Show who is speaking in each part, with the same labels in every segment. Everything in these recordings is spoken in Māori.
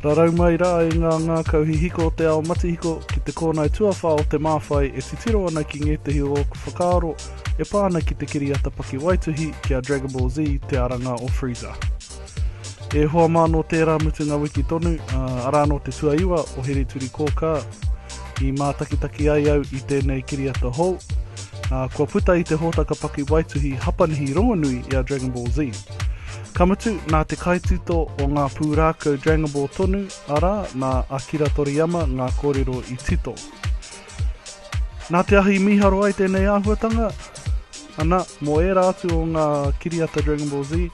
Speaker 1: Rarau mai rā e ngā ngākau hihiko o te ao matihiko ki te kōnae tuawhā o te māwhai e titiro ana ki ngētehi o ōku whakaaro e pā ana ki te kiriata pakiwaituhi ki a Dragon Ball Z te aranga o Freezer. E hoa mā nō tērā mutunga wiki tonu, arā nō te tuaiwa o Heri Turikōkā, i mātakitaki ai au i tēnei kiriata hou, ā, kua puta i te hōtaka pakiwaituhi Hapanihi rongonui i a Dragon Ball Z. Ka mutu, nā te kaitito o ngā pūrākau Dragon Ball tonu, arā, nā Akira Toriyama ngā kōrero i tito. Nā te ahi i mīharo ai tēnei āhuatanga, ana, mō ērā atu o ngā kiriata Dragon Ball Z,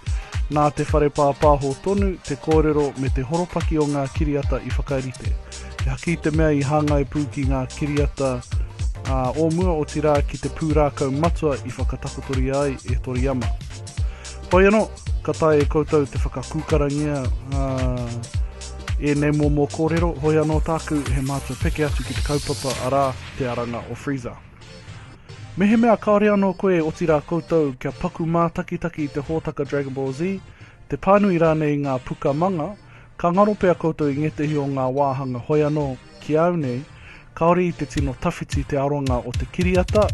Speaker 1: nā te whare pāpāho tonu te kōrero me te horopaki o ngā kiriata i whakarite. He haki i te mea i hāngai pū ki ngā kiriata ā, o mua, otirā ki te pūrākau matua i whakatakotoria ai e Toriyama. Hoi anō, ka taea e koutou te whakakūkarangia, ā, Ēnei momo kōrero, hoi anō tāku he mātua peke atu ki te kaupapa, arā, te aranga o Freezer. Mehemea kāore anō koe, otirā koutou, kia paku mātakitaki i te hōtaka Dragon Ball Z, te pānui rānei i ngā puka manga, ka ngaro pea koutou i ngētehi o ngā wāhanga hoi anō ki au nei, kāore i te tino tawhiti te aronga o te kiriata,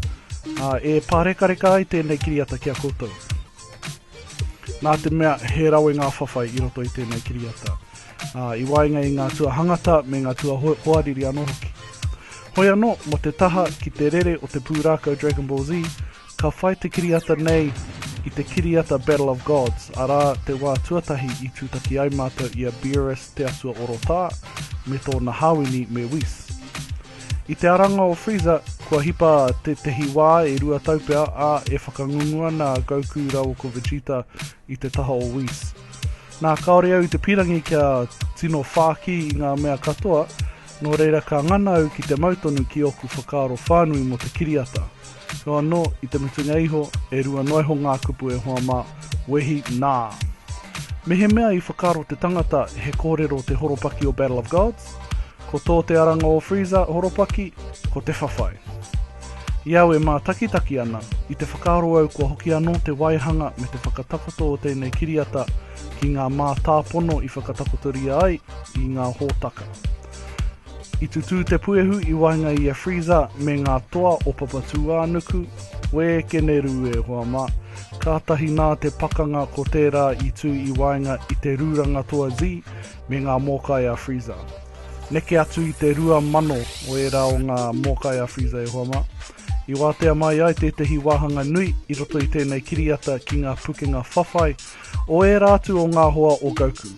Speaker 1: ā, e pārekareka ai tēnei kiriata ki a koutou. Nā te mea he rawe ngā whawhai i roto i tēnei kiriata, ā, i waenga i ngā tuahangata me ngā tuahoariri anō hoki. Hoi anō, mō te taha ki te rere o te pūrākau Dragon Ball Z, ka whai te kiriata nei i te kiriata Battle of Gods, arā, te wā tuatahi i tūtaki ai mātou i a Beerus Te Atua Orotā me tōna hāwini me Whis. I te aranga o Freezer, kua hipa tētehi wā e rua tau pea, ā, e whakangungu ana a Goku rāua ko Vegeta i te taha o Whis. Nā, kāore au i te pīrangi kia tino whāki i ngā mea katoa, nō reira ka ngana au ki te mau tonu ki ōku whakaaro whānui mō te kiriata. Nō anō, i te mutunga iho, e rua noa iho ngā kupu e hoa mā, wehi, nā. Mehemea i whakaaro te tangata he kōrero te horopaki o Battle of Gods, ko tō te aranga o Freezer horopaki, ko te whawhai. I au e mātakitaki ana, i te whakaaro au kua hoki anō te waihanga me te whakatakoto o tēnei kiriata ki ngā mātāpono i whakatakotoria ai i ngā hōtaka. I tutū te puehu i waenga i a Freezer me ngā toa o Papatūānuku, Wē, Keneru e hoa mā. Kātahi nā te pakanga ko tērā i tū i waenga i te rūranga toa Z me ngā mōkai a Freezer. Neke atu i te rua mano o ērā o ngā mōkai a Freezer e hoa mā. I wātea mai ai tētehi wāhanga nui i roto i tēnei kiriata ki ngā pukenga whawhai o ērā atu o ngā hoa o Goku.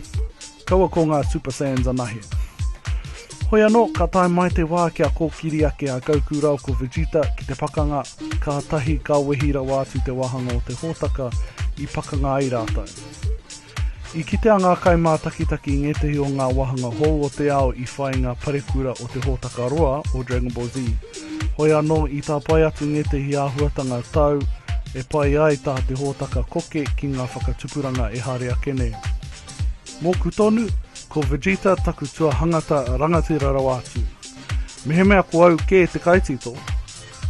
Speaker 1: Kaua ko ngā Super Saiyans anahe. Hoi anō, ka tae mai te wā kia kōkiri ake a Goku rāua ko Vegeta ki te pakanga, kātahi ka wehi rawa atu te wāhanga o te hōtaka i pakanga ai rātou. I kitea ngā kaimātakitaki i ngētehi o ngā wāhanga hou o te ao i whai i ngā parekura o te hōtaka roa o Dragon Ball Z. Hoi anō, i tāpae atu ngētehi āhuatanga tau e pai ai tā te hōtaka koke ki ngā whakatupuranga ehara ake nei. Mōku tonu, ko Vegeta taku tuahangata rangatira rawa atu. Mehemea ko au kē te kaitito,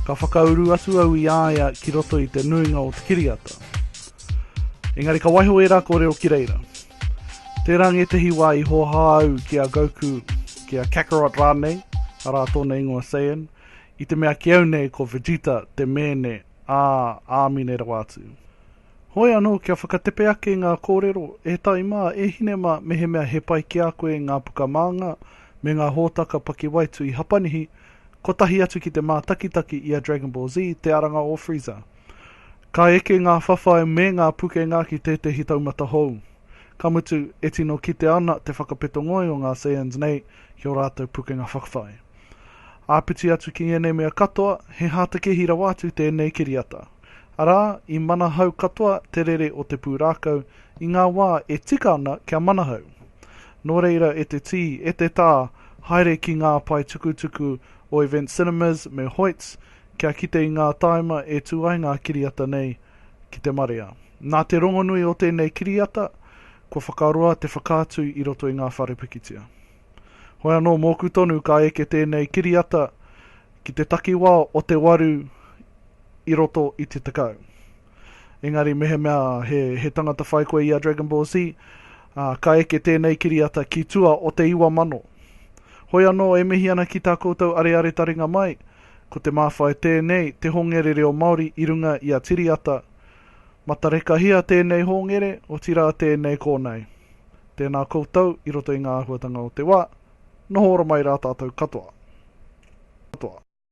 Speaker 1: ka whakauru atu au i a ia ki roto i te nuinga o te kiriata. Engari ka waiho ērā kōrero ki reira. Tērā ngētehi wā i hōhā au ki a Goku, ki a Kakarot rānei, arā tōna ingoa Saiyan, i te mea ki au nei ko Vegeta te mēne ā Āmine rawa atu. Hoi anō kia whakatepe ake ngā kōrero, e tai mā, e hine mā, mehemea he pai ki a koe ngā puka māngā me ngā hōtaka pakiwaitui Hapanihi, kotahi atu ki te mātakitaki i a Dragon Ball Z, Te Aranga o Freezer. Ka eke ngā whawhai me ngā pukenga ki tētehi taumata hou. Ka mutu, e tino kite ana te whakapeto ngoi o ngā Saiyans nei ki ō rātou pukenga whawhai. Āpiti atu ki ngēnei mea katoa, he hātekehi rawa atu tēnei kiriata. Arā, i manahau katoa te rere o te pūrākau i ngā wā e tika ana kia manahau. Nō reira e te tī, e te tā, haere ki ngā pae tukutuku o Event Cinemas me Hoyts kia kite i ngā tāima e tū ai ngā kiriata nei ki te marea. Nā te rongonui o tēnei kiriata, kua whakaroa te whakaatu i roto i ngā whare pikitia. Hoi anō mōku tonu ka eke tēnei kiriata ki te takiwā o te waru i roto i te tekau. Engari mehemea he, he tangata whai koe i a Dragon Ball Z, ā, ka eke tēnei kiriata ki tua o te iwa mano. Hoi anō e mihi ana ki tā koutou areare taringa mai, ko te māwhai tēnei te hongere reo Māori i runga i a Tiri Ata. Matarekahia tēnei hōngere, otirā tēnei kōnae. Tēnā koutou i roto i ngā āhuatanga o te wā, noho ora mai rā tātou katoa.